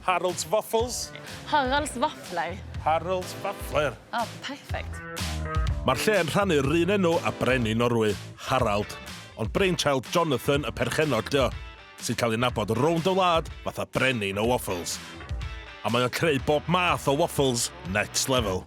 Harold's Waffles. Harold's Waffler. Harold's Waffler. Oh, perfect. Mae'r lle yn rhannu'r un enw a brenin Norwy, Harald, ond brainchild Jonathan y perchennog dio, sy'n cael ei nabod rownd y wlad fatha brenin y waffles. A mae o'n creu bob math o waffles next level.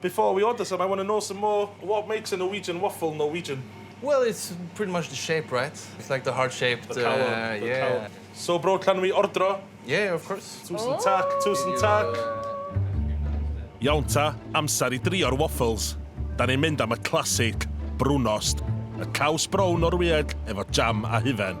Before we order some I wanna know some more what makes a Norwegian waffle Norwegian? Well it's pretty much the shape right? It's like the heart shape the calon the calon So bro can we ordro? Yeah of course Tusen tak tusen tak Iawn ta, amser i drio'r waffles. Da ni'n mynd am y classic, brunost, y caws brown Norwyeg efo jam a hufen.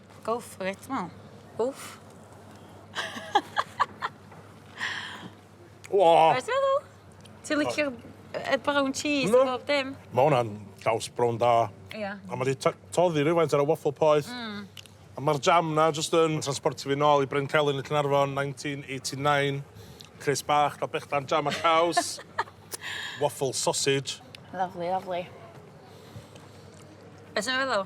Go for it t'mo'? Wff. O! Be' ti feddwl? Ti licio'r yy y brown cheese a bob dim? Ma' wnna'n caws brown da. Ia. A ma' 'di ty- toddi rywfaint ar y waffle poeth. Hmm. A ma'r jam 'na jyst yn transportio fi nôl i Brencelyn yn Caernarfon nineteen eighty nine. Crys bach, ca'l brechdan jam a caws. Waffle sausage. Lyfli lyfli. Be' ti feddwl?